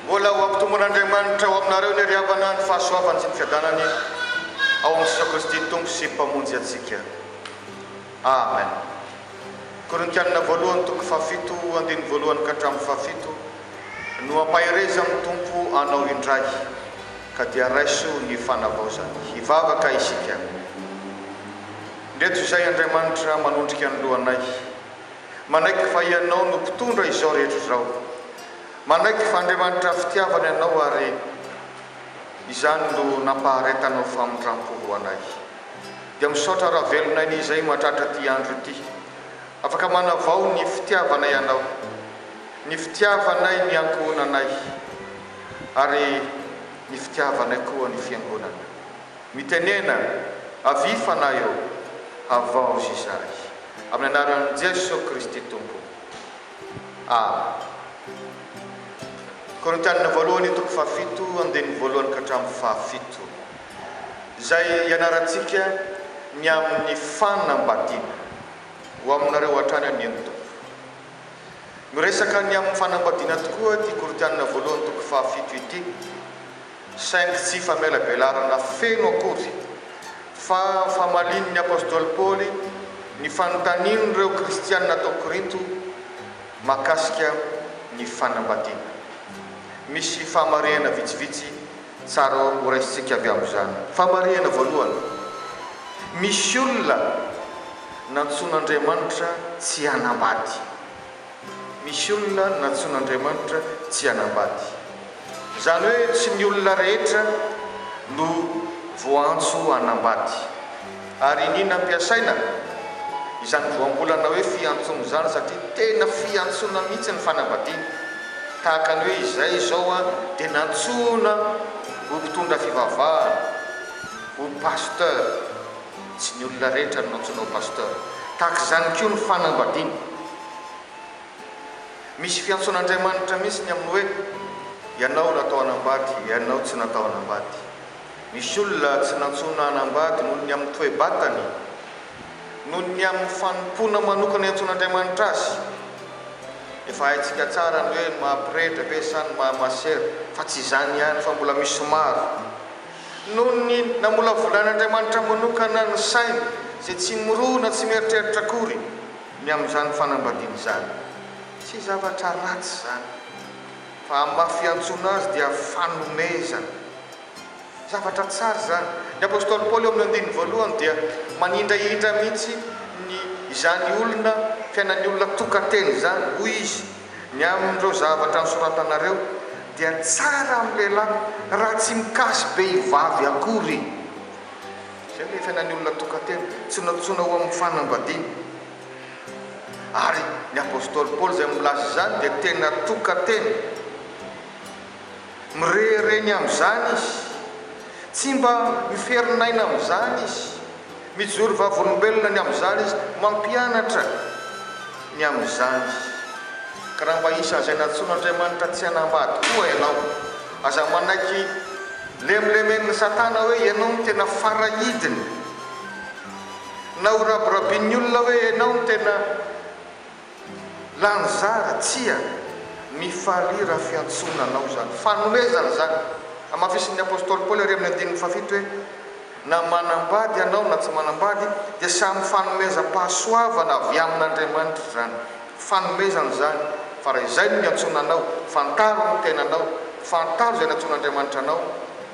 Mbola ho ampitombon'Andriamanitra ao aminareo ny ry havana ny fahasoavany sy ny fiadanany ao amin'i Jesoa Kristy Tompo sy Mpamonjy antsika. Amen. Korintianina voalohany toko fahafito andininy voalohany ka hatramin'ny fahafito. Nohampaherezan'ny Tompo anao indray, ka dia raiso ny fanavaozany. Hivavaka isika. Ndreto izay, Andriamanitra, manondrika ny lohanay. Manaiky fa Ianao no mpitondra izao rehetra izao. Manaiky fa Andriamanitra fitiavana Ianao ary izany no nampaharetanao famindram-po ho anay. Dia misaotra raha velonay ny izay mahatratra ity andro ity. Afaka manavao ny fitiavana ianao, ny fitiavanay ny ankohonanay, ary ny fitiavanay koa ny fiangonana. Mitenena, Avia Fanahy ô, havaozy izahay. Amin'ny anaran'i Jesoa Kristy Tompo. Amena. Korintianina Voalohany toko fahafito andininy voalohany ka hatramin'ny fahafito, izay ianarantsika ny amin'ny fanambadiana. Ho aminareo hatrany anie ny Tompo. Miresaka ny amin'ny fanambadiana tokoa ity Korintiana voalohany toko fahafito ity, saingy tsy famelabelarana feno akory, fa famalian'ny apostoly Paoly ny fanontanian'ireo kristiana tao Korinto mahakasika ny fanambadiana. Misy fahamarehana vitsivitsy. Tsara ho raisintsika avy amin'izany famarihana voalohany, Misy olona nantsoin'Andriamanitra tsy hanambady. Misy olona nantsoin'Andriamanitra tsy hanambady. Izany hoe tsy ny olona rehetra no voaantso hanambady. Ary iniana ampiasaina izany voambolana hoe fiantsoana izany satria tena fiantsoana mihitsy ny fanambadiana. Tahaka ny hoe izay izao aho dia nantsoina ho mpitondra fivavahana, ho pasteur. Tsy ny olona rehetra no nantsoina ho pasteur. Tahaka izany koa ny fanambadiana. Misy fiantsoan'Andriamanitra mihitsy ny amin'ny hoe ianao natao hanambady, ianao tsy natao hanambady. Nisy olona tsy nantsoina hanambady noho ny amin'ny toe-batany, noho ny amin'ny fanompoana manokana iantsoan'Andriamanitra azy. Efa haintsika tsara ny hoe ny maha-pretra ve sa ny maha-masera, fa tsy izany ihany fa mbola misy maro, noho ny namolavolan'Andriamanitra manokana ny sainy, izay tsy mirona, tsy mieritreritra akory ny amin'izany fanambadiana izany. Tsy zavatra ratsy izany. Fa amin'ny maha fiantsoana azy dia fanomezana. Zavatra tsara izany. Ny apostoly Paoly ao amin'ny andininy voalohany dia manindrahindra mihitsy ny izany olona, fiainan'ny olona tokan-tena izany. Hoy izy, Ny amin'ireo zavatra nosoratanareo dia tsara amin'ny lehilahy raha tsy mikasy behivavy akory. Izay ilay fiainan'ny olona tokan-tena, tsy nantsoina ho amin'ny fanambadiana. Ary ny apostoly Paoly izay milaza izany dia tena tokan-tena. Mirehareny amin'izany izy. Tsy mba miferin'aina amin'izany izy. Mijoro vavolombelona ny amin'izany izy. Mampianatra ny amin'izany. Ka raha mba isan'izay nantsoin'Andriamanitra tsy hanambady koa ianao, aza manaiky lemlemen'i Satana hoe ianao no tena fara idiny. Na ho rabirabin'ny olona hoe ianao no tena lany zara, tsia, mifalia raha fiantsoana anao izany. Fanomezana izany. Hamafisin'ny apostoly Paoly ary amin'ny andininy fahafito hoe, Na manambady ianao na tsy manambady, dia samy fanomezam-pahasoavana avy amin'Andriamanitra izany. Fanomezana izany, fa raha izay no niantsoana anao, fantaro ny tenanao, fantaro izay nantsoin'Andriamanitra anao,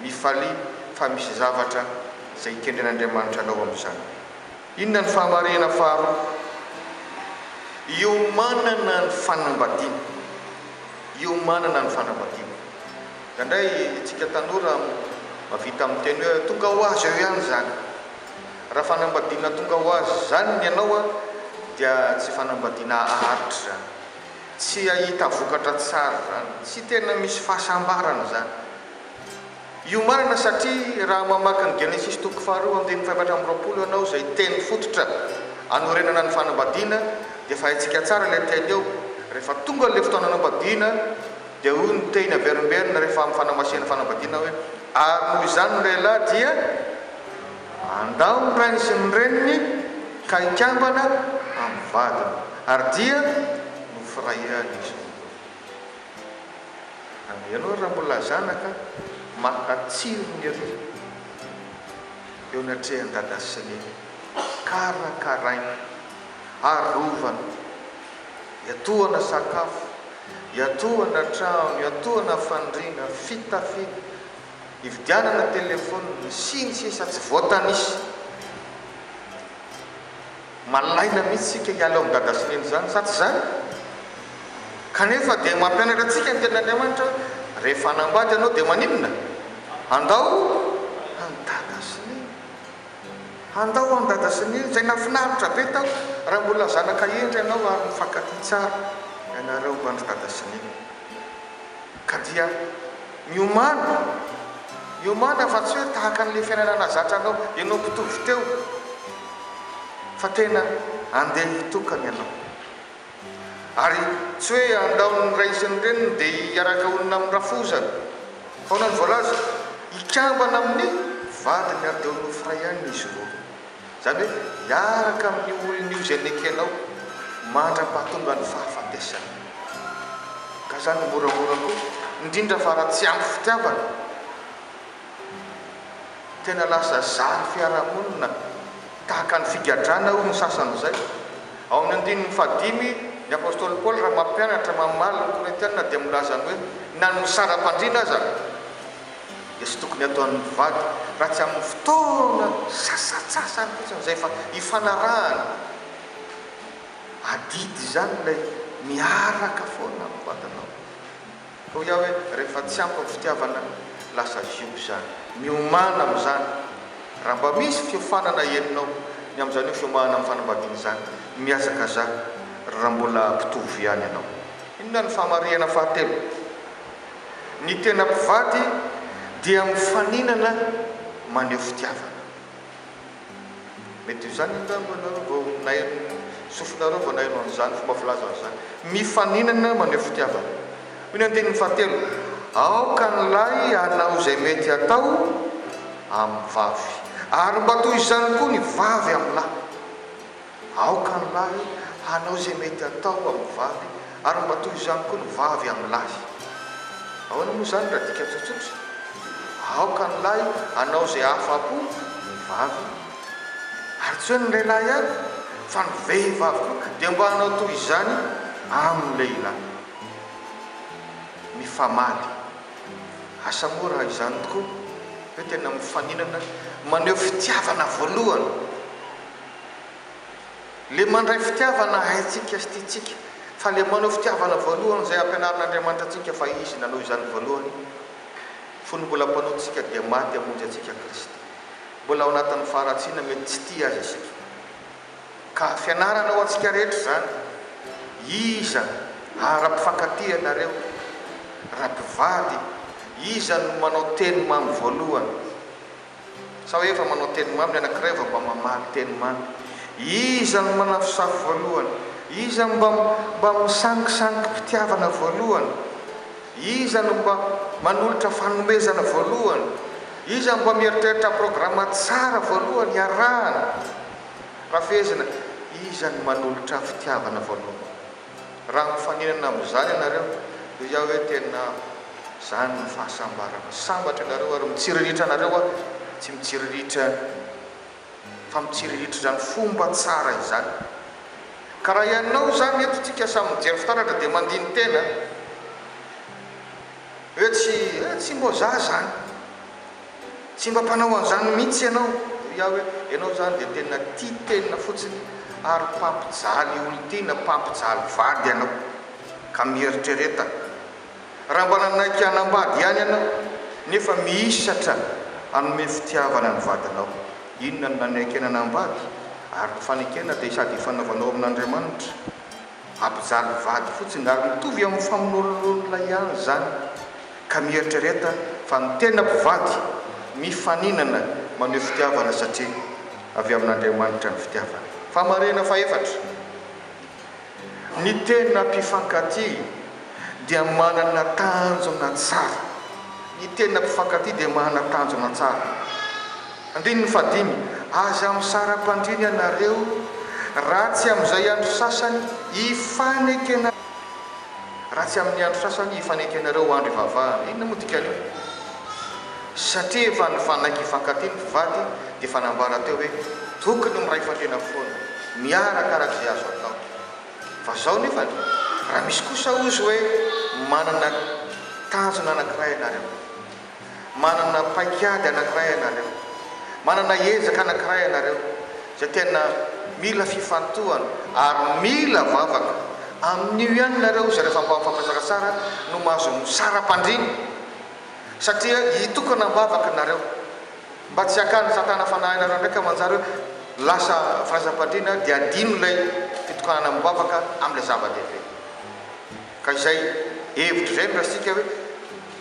mifalia fa misy zavatra izay ikendren'Andriamanitra anao amin'izany. Inona ny fahamarihana faharoa? Iomanana ny fanambadiana. Iomanana ny fanambadiana. Indraindray isika tanora mahavita miteny hoe tonga ho azy eo ihany izany. Raha fanambadiana tonga ho azy izany ny anao dia tsy fanambadiana haharitra izany. Tsy hahita vokatra tsara izany. Tsy tena misy fahasambarana izany. Io marina satria raha mamaky ny Genesisy toko faharoa andininy fahefatra amby roapolo ianao izay teny fototra anorenana ny fanambadiana dia efa haintsika tsara ilay teny eo rehefa tonga an'ilay fotoana anambadiana dia hoy ny teny averimberina rehefa amin'ny fanamasihana fanambadiana hoe ary noho izany ny lehilahy dia handao ny rainy sy ny reniny ka hikambana amin'ny vadiny ary dia nofirahirany izy. Ary ianao raha mbola zanaka maka tsirony ery eo anatrehan'i dada sy neny, karakaraina, arovana, iatohana sakafo, iatohana trano, iatohana fandriana, fitafiana, ividianana telefonina, sy ny sisa tsy voatanisa. Malaina mihitsy isika hiala ao amin'ny dada sy neny izany, sa tsy izany? Kanefa dia mampianatra antsika ny Tenin'Andriamanitra, Rehefa hanambady ianao dia maninona? Handao an'i dada sy neny. Handao an'i dada sy neny, izay nahafinaritra be tao, raha mbola zanaka hendry ianao ary mifankatia tsara ianareo andry dada sy neny. Ka dia miomana, miomana fa tsy hoe tahaka an'ilay fiainana nahazatra anao ianao mpitovo teo, fa tena andeha hitokana ianao. Ary tsy hoe andaon'ny ray sy ny reniny dia hiaraka honina amin'ny rafozany, fa ahoana no voalaza? Hikambana amin'ny vadiny ary dia ho nofy iray ihany izy roa. Izany hoe miaraka amin'ny olon'io izay nekenao mandra-pahatongan'ny fahafatesany. Ka izany moramora koa, indrindra fa raha tsy ampy fitiavana. Tena lasa zary fiarahamonina tahaka ny figadrana hoy ny sasany izay. Ao amin'ny andininy fahadimy, ny apostoly Paoly raha mampianatra, mamaly ny Korintiana dia milaza ny hoe na ny misara-pandriana aza, dia tsy tokony hataon'ny mpivady raha tsy amin'ny fotoana sasatsasany fotsiny izay fa ifanarahana. Adidy izany ilay miaraka foana amin'ny vadinao. Hoy aho hoe rehefa tsy ampy ny fitiavana, lasa ziobo izany. Miomàna amin'izany raha mba misy fiofanana henonao ny amin'izany hoe fiomahana amin'ny fanambadiana izany. Mihazakazaha raha mbola mpitovo ihany ianao. Inona no fahamarihana fahatelo? Ny tena mpivady dia mifaninana maneho fitiavana. Mety ho izany angamba ianareo vao naino, sofinareo vao naino an'izany fomba filaza izany. Mifaninana maneho fitiavana. Hoy ny andininy fahatelo, Aoka ny lahy hanao izay mety hatao amin'ny vavy, ary mba toy izany koa ny vavy amin'ny lahy. Aoka ny lahy hanao izay mety atao amin'ny vavy ary mba toy izany koa ny vavy amin'ny lahy. Ahoana moa izany raha dika tsotsotra? Aoka ny lahy hanao izay ahafa-po ny vavy ary tsy hoe ny lehilahy ihany fa ny vehivavy koa dia mba hanao toy izany amin'ny lehilahy. Mifamaly. Asa moa raha izany tokoa hoe tena mifaninana maneho fitiavana voalohany? Le mandray fitiavana haintsika sy tiantsika fa le manao fitiavana voalohany izay ampianarin'Andriamanitra antsika fa Izy nanao izany voalohany fony mbola mpanontsika dia maty hamonjy antsika Kristy. Mbola ao anatin'ny faharatsiana mety tsy tia Azy isika. Ka fianarana ho antsika rehetra izany. Iza ara mpifankatia ianareo? Raha mpivady, iza no manao teny mamy voalohany? Sa hoe efa manao teny mamy ny anankiray vao mba mamaly teny mamy? Iza no manafosafo voalohany? Iza no mba mba misangisangi-pitiavana voalohany? Iza no mba manolotra fanomezana voalohany? Iza no mba mieritreritra programa tsara voalohany hiarahana? Raha fehezina, iza no manolotra fitiavana voalohany? Raha mifaninana amin'izany ianareo, hoy aho hoe tena izany no fahasambarana. Sambatra ianareo ary mitsiriritra anareo aho, tsy mitsiriritra ny olona, fa mitsiriritra izany fomba tsara izany. Ka raha ianao izany, eto isika samy mijery fitaratra dia mandini-tena hoe tsy, eh, tsy mbo za izany. Tsy mba mpanao an'izany mihitsy ianao, hoy aho hoe, ianao izany dia tena tia tena fotsiny ary mpampijaly olon-tiana, mpampijaly vady ianao. Ka mieritrereta, raha mba nanaiky hanambady ihany ianao nefa mihisatra hanome fitiavana ny vadinao, inona no nanekena hanambady? Ary ny fanekena dia sady ifanaovanao amin'Andriamanitra. Ampijaly vady fotsiny ary mitovy amin'ny famonoan'olona ihany izany ka mieritrereta fa ny tena mpivady mifaninana maneho fitiavana satria avy amin'Andriamanitra ny fitiavana. Famarinana fahefatra, Ny tena mpifankatia dia manana tanjona tsara. Ny tena mpifankatia dia manana tanjona tsara. Andininy fahadimy, Aza misara-pandriana ianareo, raha tsy amin'izay andro sasany hifanekena, raha tsy amin'ny andro sasany hifanekenareo ho andro hivavahana. Inona moa dikan'io? Satria efa nifanaiky hifankatia ny mpivady, dia efa nambara teo hoe tokony miray fandriana foana, miaraka arak'izay azo atao. Fa zao nefany, raha misy kosa ozy hoe manana tanjona anankiray ianareo. Manana paikady anankiray ianareo, manana ezaka anankiray ianareo izay tena mila fifantohana ary mila vavaka. Amin'io ihany nareo izay rehefa mba mifampizaka tsara no mahazo misara-pandriana satria hitokana am-bavaka nareo mba tsy hakany satana fanahinareo ndraiky amanjara hoe lasa firaisam-pandriana dia adino ilay fitokanana am-bavaka amin'ilay zava-dehibe. Ka izay hevitra izay no raisika hoe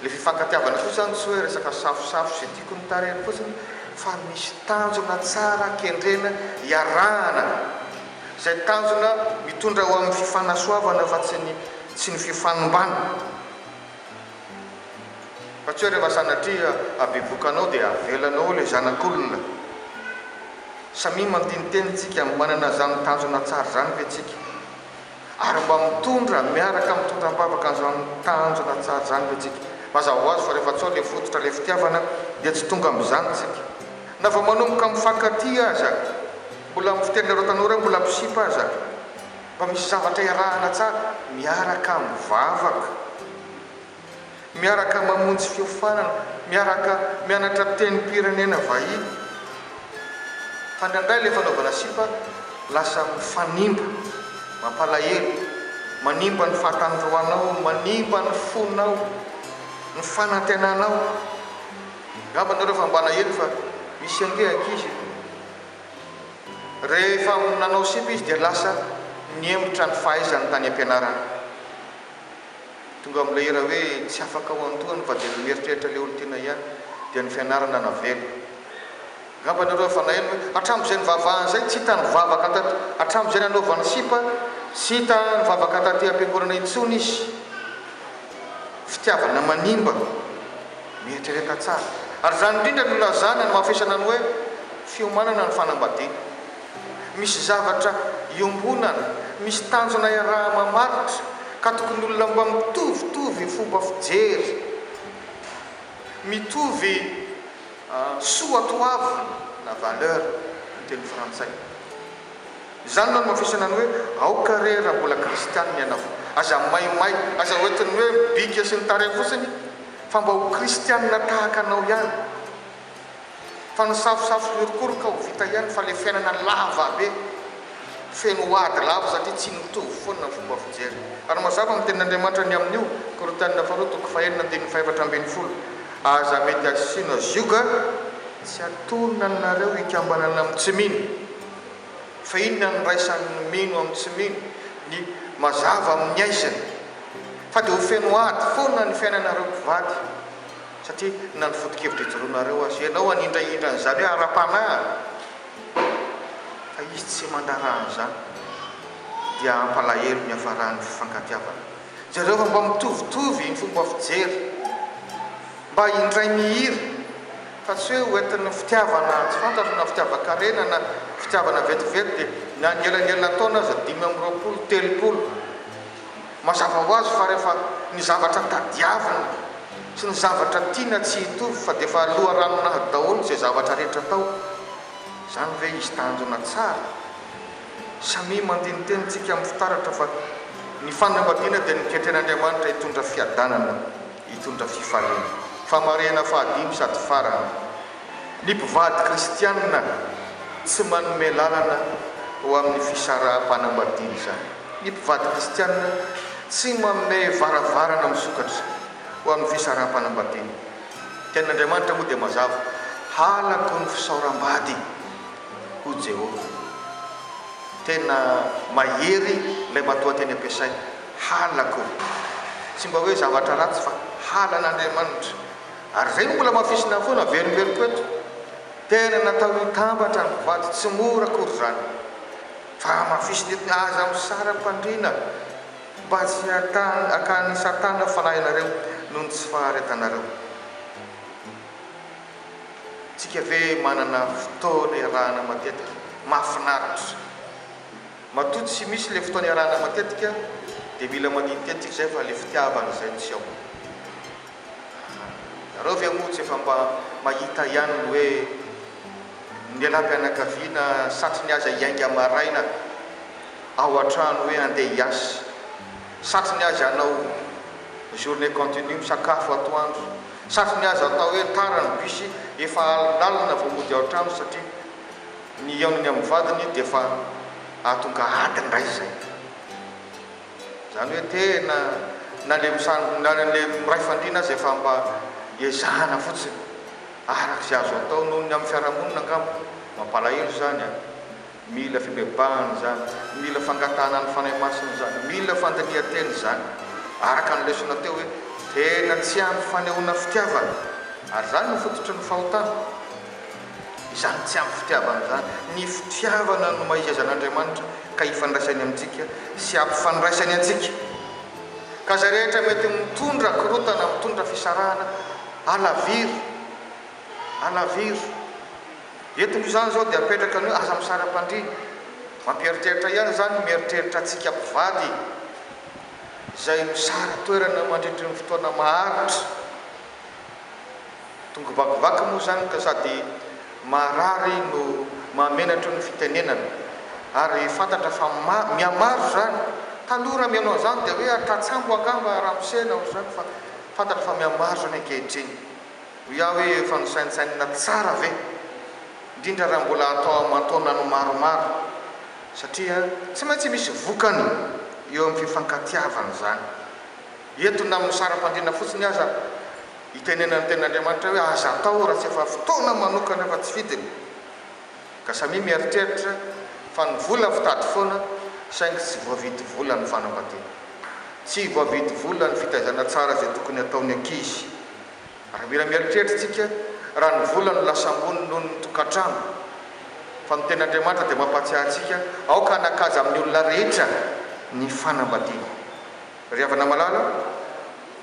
le fifankatiavana fotsiny zany tsy hoe resaka safosafo sy tiako ny tarehiny fotsiny fa misy tanjona tsara kendrena iarahana izay tanjona mitondra ho amin'ny fifanasoavana fa tsy ny tsy ny fifanimbana fa tsy hoe rehefa sanatria habiboka anao dia avelanao le zanak'olona samia mantiniteny tsika manana zany tanjona tsara zany ve tsika ary mba mitondra miaraka mitondra am-bavaka an'izany tanjona tsara izany ve tsika? Mazava ho azy fa rehefa tsy ao ilay fototra ilay fitiavana dia tsy tonga amin'izany tsika. Na vao manomboka mifankatia aza, mbola amin'ny fiteninareo tanora hoe mbola mpisipa aza, mba misy zavatra iarahana tsara miaraka mivavaka. miaraka mamonjy fiofanana, miaraka mianatra tenim-pirenena vahiny, fa indraindray ilay fanaovana sipa lasa mifanimba, mampalahelo, manimba ny fahatandroanao, manimba ny fonao, ny fanantenanao. Angamba ianareo efa malahelo fa misy ange ankizy rehefa nanao sipa izy dia lasa nihemotra ny fahaizany tany am-pianarana. Tonga amin'ilay hira hoe tsy afaka ao an-dohany fa dia ny mieritreritra ilay olon-tiana ihany dia ny fianarana navela. Angamba ianareo efa naheno hoe hatramin'izay nivavahany izay tsy hita nivavaka taty hatramin'izay nanaovany sipa tsy hita nivavaka taty am-piangonana intsony izy. Fitiavana manimba mieritrereta tsara. Ary izany indrindra no ilazana, nomafisana ny hoe fiomanana ny fanambadiana. Misy zavatra iombonana, misy tanjona iaraha-mamaritra ka tokony olona mba mitovitovy fomba fijery, mitovy soa toavina na valeur ny teny frantsay. Izany no anomafisana ny hoe aoka re raha mbola kristianina ianao, aza maimay, aza hoentin'ny hoe bika sy ny tarehy fotsiny fa mba ho kristianina tahaka anao ihany. Fa ny safosafo miorokoroka ho vita ihany fa le fiainana lava be feno ady lava satria tsy mitovy foana ny fomba fijery. Ary mazava amin'ny tenin'Andriamanitra ny amin'io, Korintianina faharoa toko fahenina andininy fahefatra ambin'ny folo, Aza mety asina zioga, tsy atonina aminareo hikambanana amin'ny tsy mino. Fa inona no iraisan'ny mino amin'ny tsy mino? Ny mazava amin'ny aizina. Fa dia ho feno ady foana ny fiainanareo mpivady. Satria na ny foto-kevitra ijoroanareo aza ianao hanindrahindra an'izany hoe ara-panahy fa izy tsy mandraharaha an'izany dia hampalahelo ny hiafaran'ny fifankatiavana. Jereo fa mba mitovitovy ny fomba fijery, mba indray mihira fa tsy hoe hoentin'ny fitiavana tsy fantatro na fitiavan-karena na fitiavana vetivety dia na ny elanelan-taona aza dimy amby roapolo, telopolo. Mazava ho azy fa rehefa ny zavatra tadiavina sy ny zavatra tiana tsy hitovy fa dia efa loharanon'ady daholo izay zavatra rehetra atao. Izany ve izy tanjona tsara? Samia mandia ny tenintsika amin'ny fitaratra fa ny fanambadiana dia noketren'Andriamanitra hitondra fiadanana, hitondra fifaliana. Famarihana fahadimy sady farany. Ny mpivady kristianina tsy manome lalana ho amin'ny fisaraham-panambadiana izany. Ny mpivady kristianina tsy manome varavarana misokatra ho amin'ny fisaraham-panambadiana. Ny tenin'Andriamanitra moa dia mazava, Halako ny fisaoram-bady, hoy Jehovah. Tena mahery ilay matoanteny ampiasainy, halako. Tsy mba hoe zavatra ratsy fa halan'Andriamanitra. Ary izay no mbola amafisina foana, averimberiko eto. Tena natao hitambatra ny mpivady tsy mora akory izany. Fa amafisina eto ny aza misara-pandriana mba tsy hahatan akan'i Satana fanahinareo noho ny tsy faharetanareo. Tsika ve manana fotoana iarahana matetika? Mahafinaritra. Matoa tsy misy ilay fotoana iarahana matetika dia mila manintetika izay fa ilay fitiavana izay no tsy ao. Ianareo ve moa tsy efa mba mahita ihany ny hoe ny lehilahy-pianakaviana satry ny azy hiainga maraina ao an-trano hoe handeha hiasa, satry ny azy hanao journée continue misakafo atoandro, satry ny azy atao hoe tara ny bus efa alinalina vao mody ao an-trano satria ny hihaonony amin'ny vadiny dia efa hahatonga ady indray izay. Izany hoe tena na le misan na le miray fandriana aza efa mba ezahana fotsiny araka izay azo atao noho ny amin'ny fiarahamonina angamba. Mampalahelo izany an! Mila fibebahana izany, mila fangatahana ny Fanahy Masina izany, mila fandinihan-tena izany araka ny lesona teo hoe tena tsy ampy fanehoana fitiavana ary izany no fototry ny fahotana. Izany tsy ampy fitiavana izany. Ny fitiavana no maha-izy-aizan'Andriamanitra ka hifandraisany amintsika sy hampifandraisany antsika. Ka izay rehetra mety mitondra korontana, mitondra fisarahana, alaviro, alaviro. Eto moa izany izao dia apetraka ny hoe aza misary am-pandriana. Mampieritreritra ihany izany, mieritreritra antsika mpivady izay misara toerana mandritry ny fotoana maharitra. Tonga vakivaky moa izany ka sady maharary no mahamenatra ny fitenenana ary fantatra fa mihamaro izany, taloha raha mihaino an'izany dia hoe tratsambo angamba ramose na ohatr'izany fa fantatra fa mihamaro izany ankehitriny. Hoy aho hoe efa nosaintsainina tsara ve? indrindra raha mbola atao aman-taonany maromaro satria tsy maintsy misy vokany eo amin'ny fifankatiavana izany. Eto na amin'ny saram-pandriana fotsiny aza, Itenenany ny tenin'Andriamanitra hoe aza atao raha tsy efa fotoana manokana efa tsy fidiny, ka samia mieritreritra fa ny vola fitady foana saingy tsy voavidy vola ny fanambadiana. Tsy voavidy vola ny fitaizana tsara izay tokony hataon'ny ankizy. Ary mila mieritreritra isika raha ny vola no lasa ambony noho ny tokantrano. Fa ny tenin'Andriamanitra dia mampahatsiahy antsika aoka hanakaja amin'ny olona rehetra ny fanambadiana. Ry havana malala,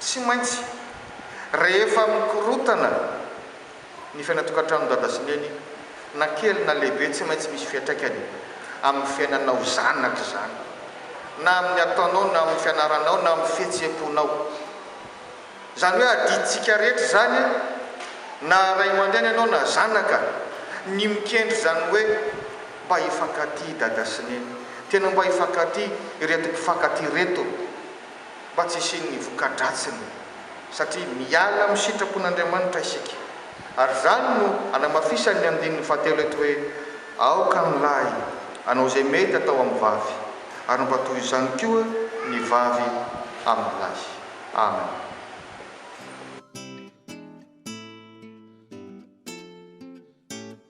Tsy maintsy, rehefa mikorotana ny fiainan-tokantranon'i Dada sy Neny, na kely na lehibe, tsy maintsy misy fiantraikany amin'ny fiainanao zanaka izany, na amin'ny ataonao, na amin'ny fianaranao, na amin'ny fihetseham-ponao. Izany hoe adidintsika rehetra izany, na ray aman-dreny ianao na zanaka, ny mikendry izany hoe mba hifankatia Dada sy Neny. Tena mba hifankatia ireto mpifankatia ireto. mba tsy hisian'ny voka-dratsiny, satria miala amin'ny sitrapon'Andriamanitra isika. Ary izany no anamafisan'ny andininy fahatelo eto hoe, Aoka ny lahy hanao izay mety atao amin'ny vavy, ary mba toy izany koa ny vavy amin'ny lahy. Amena.